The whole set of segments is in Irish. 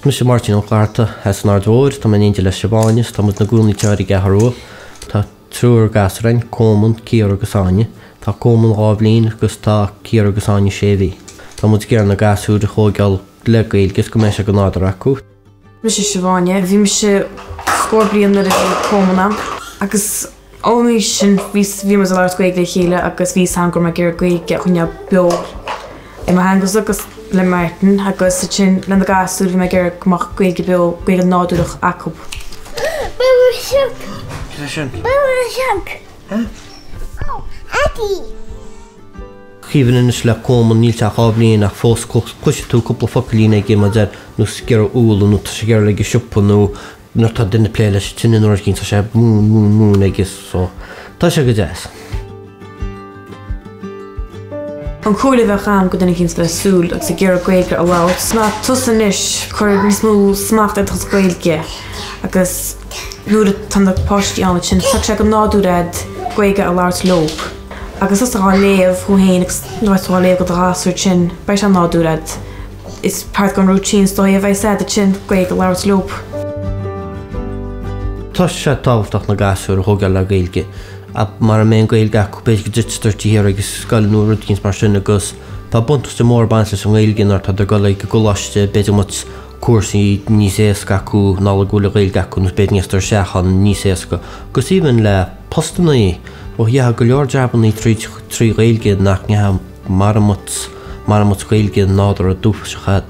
Mise Máirtín Ó Flatharta as an Aird Mhóir. Tá mé in éindí le Siobhán is tá muid ina gcónaí thoir ar an gCeathrú Rua. Tá triúr gasúr againn, Cóman, Ciara agus Áine. Tá Cóman dhá bhliain agus tá Ciara agus Áine sé mhí. Tá muid ag iarraidh na gasúir a thóigeáil le Gaeilge is go mbeidh sé go nádúrtha acu. Mise Siobhán é. Bhí mise scór bliain nuair a bhí Cóman ann agus ón aois sin bhí, bhí muid ag labhairt Gaeilge le chéile agus bhí a fhios agam go raibh mé ag iarraidh Gaeilge a choinneáil beo i mo theangasa agus le Máirtín agus ansin le na gasúir bhí mé ag iarraidh go mbeadh Gaeilge beo, Gaeilge nádúrach acu. Bua sioc! Cad é sin? Bua sioc! Huh? Oh, Eddie! Even anois le Cóman, níl sé ach dhá bhliain ach fós cloisfidh tú cúpla focailín aige mar nós ag iarraidh úlla, nó tá sé ag iarraidh a ghoil ag an siopa, nó nuair atá duine ag plé leis an tine nó rud eicínt tá sé ag móin, móin, móin agus so tá sé go deas. An chomhairle a bheadh agam go dhuine eicínt ag súil agus ag iarraidh Gaeilge a labhairt, ná tosú anois, cuir níos mó smacht ar do chuid Gaeilge agus nuair atá na páistí ann ansin, tiocfaidh sé go nádúrtha agat Gaeilge a labhairt leob. Agus is gá léamh thú féin agus nuair atá tú ag léamh go do ghasúr ansin beidh sé nádúrtha agat. Is part gon routine is dóigh a bheidh sé ansin, Gaeilge a labhairt leob. Tá sé tábhachtach na gasúir a thógáil le Gaeilge ach mara mbeidh an Gaeilge acu b'fhéidir go dtitfidís siar ag scoil nó rud eicínt mar sin agus tá buntáiste mór ag baint leis an nGaeilge nuair atá tú ag dul ag an gcoláiste b'fhéidir go mbeadh cúrsaí níos éasca acu i ngeall go bhfuil an Ghaeilge acu nó b'fhéidir dul isteach ann níos éasca agus even le postannaí. Ó gheobhfá go leor jabannaí tríd trí Ghaeilge nach ngeobhfá mara mbeadh mara mbeadh Gaeilge nádúrtha dúchais agat.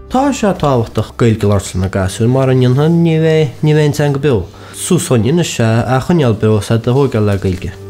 Tá sé tábhachtach Gaeilge a labhairt le na gasúir mara ndéanfaidh ní bheidh ní bheidh an teanga beo. Suas againn anois é a choinneáil beo is iad a thóigeáil le Gaeilge.